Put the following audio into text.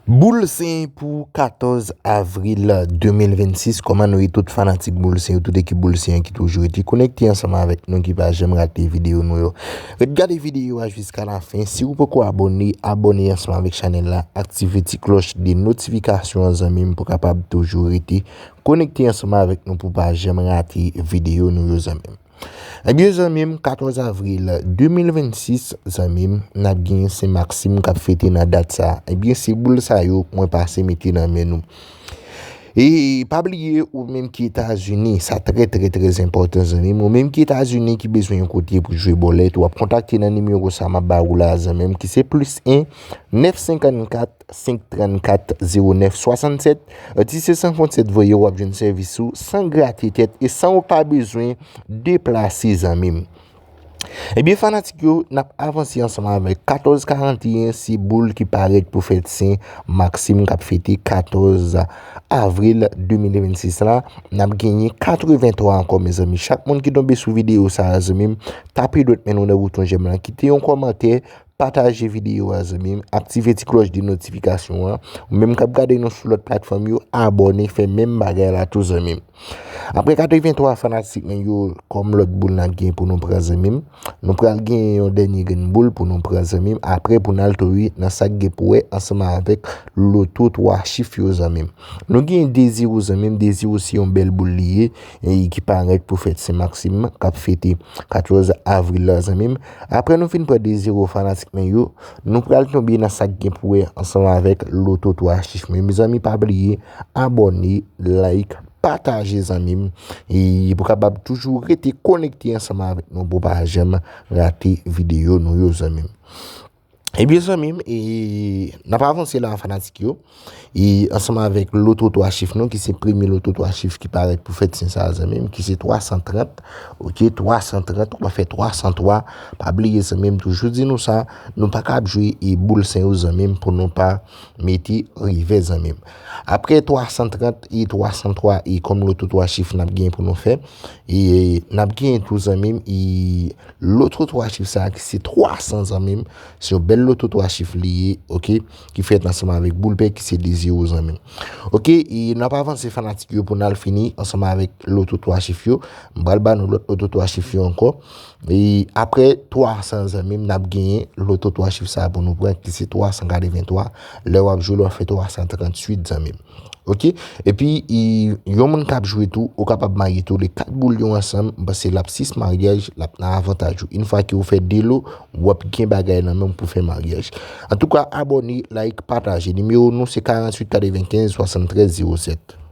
Boul Sen pou 14 avril 2026 Kòman nou ye tout fanatik Boul Sen yo, tout ekip Boul Sen an ki toujou rete konekte ansanm avèk nou ki pa janm rate videyo nou yo. Ret gade videyo a jiska lafen, si ou poko abòne, abòne ansanm avèk chanèl la, aktive ti klòch de notifikasyon an zanmi m pou kapab toujou rete konekte ansanm avèk nou pou pa janm rate videyo nou yo zanmi m. Ebyen zanmi m 14 avril 2026 zanmi m nap gen sen maksim kap fete nan dat sa ebyen se boul sa yo mwen pase mete nan men nou e pa bliye ou menm ki etazini sa trè trè trè enpòtan zanmi m ou menm ki etazini ki bezwen yon kote pou jwe bòlèt wap kontakte nan nimewo sa map ba ou la zanmi m ki se plis 1 9 54 5 34 09 67 Tissé Sans Frontières voye w ap jwenn sèvis ou san grate tèt e san ou pa bezwen deplase zanmi m. Ebyen fanatik yo nap avanse ansanm avèk 14 41 se boul ki parèt pou fèt sen Maxime kap fete 14 avril 2026 la nap genyen 83 ankò mezanmi chak moun ki tonbe sou videyo sa zanmi m tape dwèt men nou nan bouton jèm lan kite yon kòmantè Pataje videyo a zanmim, aktive ti klòch de notifikasyon an, ou menm kap gade nou sou lòt platfòm yo abòne fè menm bagay la tou zanmim. Aprè 83 fanatik mwen yo kòm lòt boul nap gen pou nou pran zanmim, nou pral gen yon dènye grenn boul pou nou pran zanmim aprè pou nal tori nan sak gen pou wè ansanm avèk loto 3 chif yo zanmim. Nou gen deziro zanmim, deziro se yon bèl boul li ye ki parèt pou fèt Sen Maksim kap fete 14 avril la zanmim. Aprè nou fin pran 2 zero fanatik mwen yo, nou pral tonbe nan sak gen pou wè ansanm avèk loto 3 chif mwen mezanmi pa bliye abòne like pataje zanmim pou kapab toujou rete konekte ansanm avèk nou pou pa janm rate videyo nou yo zanmim. Ebyen eh zanmim, e nap avanse la fanatik yo, e ansanm avèk loto 3 chif nou ki se premye loto 3 chif ki parèt pou fèt sen sa a zanmim ki se 330 ok 330 ou pa fè 303 pa bliye zanmim toujou di nou sa nou pa kab jwe e boul sen yo zanmim pou nou pa mete revè zanmim apre 330 e 303 e kòm loto 3 chif nap gen pou nou fè e nap gen tou zanmim e Loto 3 chif sa ki se 300 zanmim se yon bèl loto 3 chif li ye ok ki fèt ansanman avèk boul pè ki se 2 zero zanmim ok e nou ap avanse fanatik yo pou nou al fini ansanman avèk loto 3 chif yo m pral ba nou lòt loto 3 chif yo ankò e apre 300 zanmim n ap genyen loto 3 chif sa pou nou pran ki se 383 lè w ap jwe l w ap fè 338 zanmim Ok epi yon moun kap jwe tou ou kapab marye tou le 4 boul yo ansanm pase lap 6 maryaj lap nan avantaj ou infwa ke ou fè 2 lo wap gen bagay nan menw pou fè maryaj antouka abòne like pataje nimewo nou se 48 95 73 07.